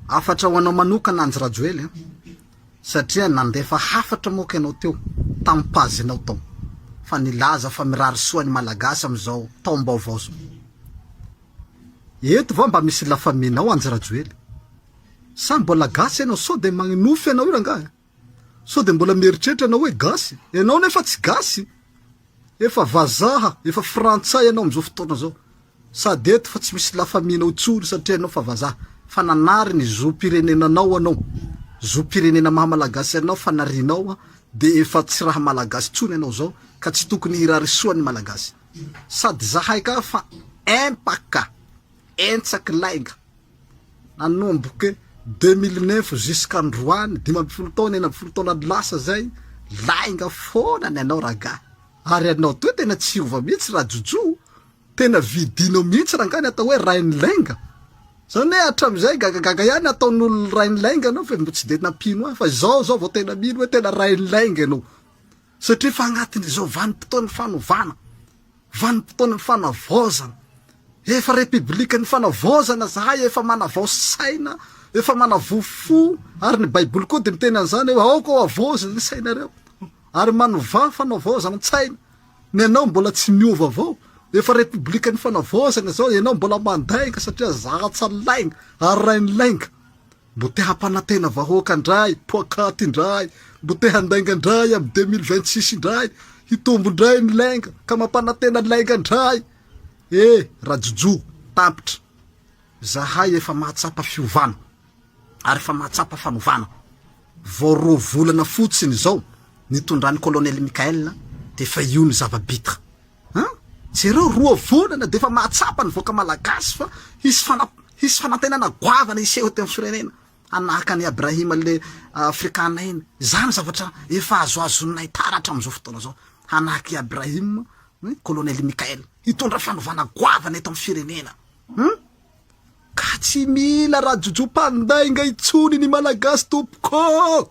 Hafatra ho anao manokana Andry Rajoely a! satria nandefa hafatra moa ka ianao teo tamin'ny page nao tao fa nilaza fa mirary soa ny Malagasy amin'izao taom-baovao izao. Eto va mba misy la famille nao Andry Rajoely? Sa mbola gasy ianao sao dia magnofy anao io rangahy a! Sao dia mbola mieritreritra ianao hoe gasy? Ianao nefa tsy gasy! Efa vazaha, efa frantsay ianao amin'izao fotoana izao. Sady eto fa tsy misy la famille nao intsony satria ianao fa vazaha. Fa nanary ny zom-pirenenanao ianao, zom-pirenena maha malagasy anao fa narianao dia efa tsy raha malagasy intsony ianao izao ka tsy tokony hirary soa ny malagasy. Sady zahay ka fa empaka, entsaky lainga. Nanomboka deux mille neuf zisk'androany, dimy ambin'ny folo taona, enina ambin'ny folo taona lasa zay, lainga foana ny anao ragaha, ary ianao toa tena tsy hiova mihitsy rajojo, tena vidinao mihitsy rangah ny atao hoe rain'ny lainga, zany hoe hatramizay gagagaga ihany ataon'olona rain'ny lainga anao fa mbola tsy dia nampino ahy, fa izao zao vao tena mino hoe tena rain'ny lainga ianao. Satria efa agnatin'izao vanim-potoan'ny fanovana, vanim-potoanan'ny fanavaozana, efa Repiblikan'ny fanavaozana zahay, efa manavao saina, efa manavao fo, ary ny Baiboly koa dia miteny an'izany hoe aoka hohavaozina ny sainareo, ary manovà fanavaozan-tsaina, ny anao mbola tsy miova avao, efa Repiblikan'ny fanavaozana izao, ianao mbola mandainga satria zara-tsalaigna, ary rainilainga. Mbo te hampanantena vahoaka ndray poakaty indray mbo te handainga ndray am deux mille vingt six indray hitombo ndray ny lainga ka mampanantena lainga ndray e rajojo tampitra zahay efa mahatsapa fiovana ary efa mahatsapa fanovana vao roa volana fotsiny zao nitondran'i colonel Michael dia efa io ny zava bitra An! Jereo, roa volana dia efa mahatsapa ny vahoaka malagasy fa hisy fana hisy fanantenana goavana hiseho eto amin'ny firenena, hanahaka an'i Abrahima le afrikana iny. Izany zavatra efa azoazonay taratra amin'izao fotoana izao, hanahaka i Abrahima, ny kolonely Mikael. Hitondra fanovana goavana eto amin'ny firenena. Hum! Ka tsy mila rajojom-pandainga intsony ny malagasy tompoko!